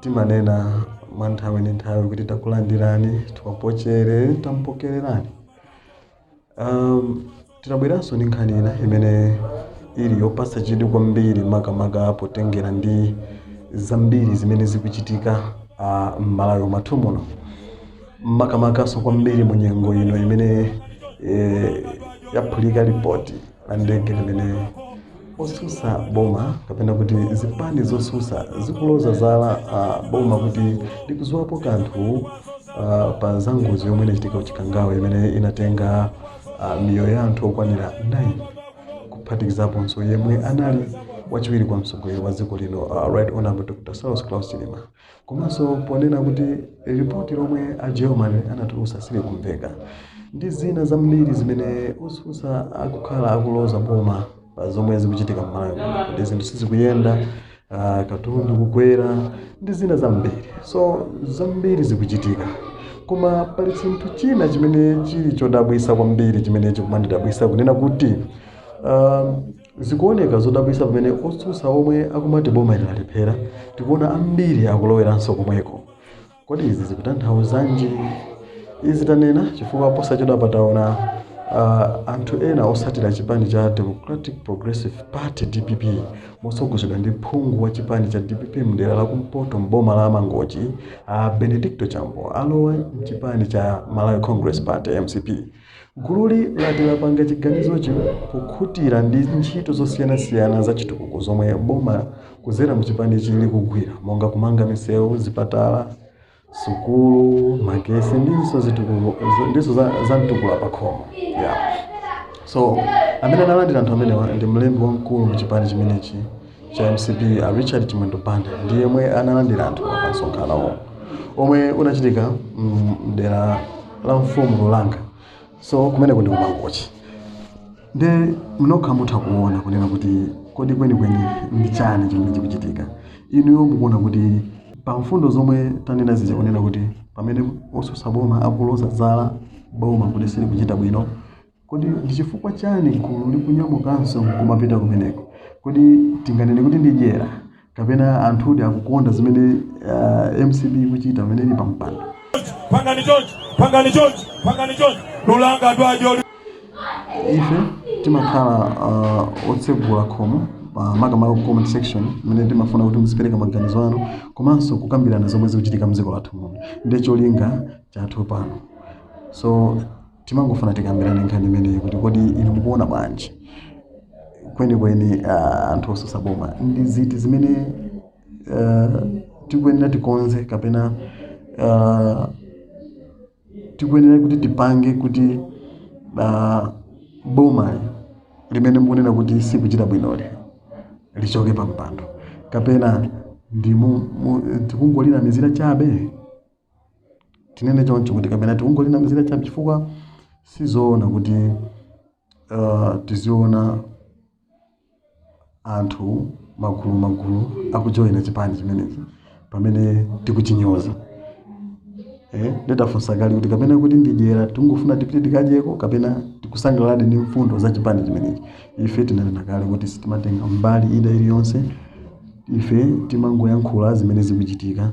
timanena mwa nthawi ndi nthawi kuti takulandirani tawapochere tampokererani um, tinabweranso ndi nkhani ina imene ili yopatsa chidwi kwambiri makamaka potengera ndi zambiri zimene zikuchitika uh, m'malawi mwathu muno makamakaso kwambiri mu nyengo ino imene eh, yaphulika lipoti la ndege limene osusa boma kapena kuti zipani zosusa zikuloza zala uh, boma kuti likuziwapo kanthu uh, pa za ngozi yomwe inachitika kuchikangawa imene inatenga uh, miyoyo ya anthu okwanira 9 kuphatikizaponso yemwe anali wachiwiri kwa mtsogoleri wa dziko lino uh, right honorable dr saulos klaus chilima Komanso ponena kuti lipoti lomwe a Germany anatulutsa silikumveka ndi zina zambiri zimene osusa akukhala akuloza boma zomwe zikuchitika m'Malawi muno, kuti zinthu sizikuyenda, ah, katundu kukwera ndi zina zambiri. So zambiri zikuchitika koma pali chinthu china chimene chili chodabwisa kwambiri chimene chikumandidabwisa kunena kuti um, Zikuoneka zodabwisa pamene otsutsa omwe akumati boma ili lalephera tikuona ambiri akuloweranso komweko. Kodi izi zikutanthauzanji? Izi tanena chifukwa posachedwapa taona anthu ena osatira chipani cha Democratic Progressive Party, dpp, motsogozedwa ndi phungu wa chipani cha dpp mdera la kumpoto m'boma la Mangochi a Benedicto Chambo alowa m'chipani cha Malawi Congress Party, mcp. Gululi lati lapanga chiganizochi pokhutira ndi ntchito zosiyanasiyana za chitukuko zomwe boma kudzera mu chipanichi likugwira monga kumanga misewu, zipatala, sukulu, magesi ndinso, ndinso za mtukula pakhomo yeah. so amene analandira anthu amenewa ndi mlembi wamkulu mu chipani chimenechi cha mcp a richard chimwendo banda ndi yemwe analandira anthu pa msonkhano omwe unachitika mm, mdera la mfumu lulanga so kumeneko ndi kumangochi nde mnokha mutha kuona kunena kuti kodi kwenikweni ndi chani chimene chikuchitika inuyo mukuona kuti pa mfundo zomwe tanena zija kunena kuti pamene osusa boma akuloza zala boma kuti silikuchita bwino Kodi ndi chifukwa chani gulu likunyamukanso nkumapita kumeneko? Kodi tinganene kuti ndi dyera kapena anthudi akukonda zimene uh, mcp ikuchita pamene ili pampando? pangani chonchi lulanga dwajo ife timakhala uh, otsegula khomo makamaka ku comment section imene timafuna kuti muzipereka maganizo anu komanso kukambirana zomwe zikuchitika mdziko lathu muno ndiye cholinga chathu pano so timangofuna tikambirane nkhani imeneyi kuti kodi inu mukuona bwanji kwenikweni ah, anthu osusa boma ndi ziti zimene ah, tikuyenera tikonze kapena ah, tikuyenera kuti tipange kuti ah, boma limene mukunena kuti silikuchita bwinoli lichoke pampando kapena ndi mu- mu- tikungolinamizira chabe tinene choncho kuti kapena tikungolinamizira chabe chifukwa sizoona kuti uh, tiziona anthu magulu magulu akujoyina chipani chimenechi pamene tikuchinyoza eh, ndidafunsa kale kuti kapena kuti ndidyera tingofuna tipite tikadyeko kapena tikusangalala ndi mfundo za chipani chimenechi ife tinanena kale kuti sitimatenga mbali ina iliyonse ife timangoyankhula zimene zikuchitika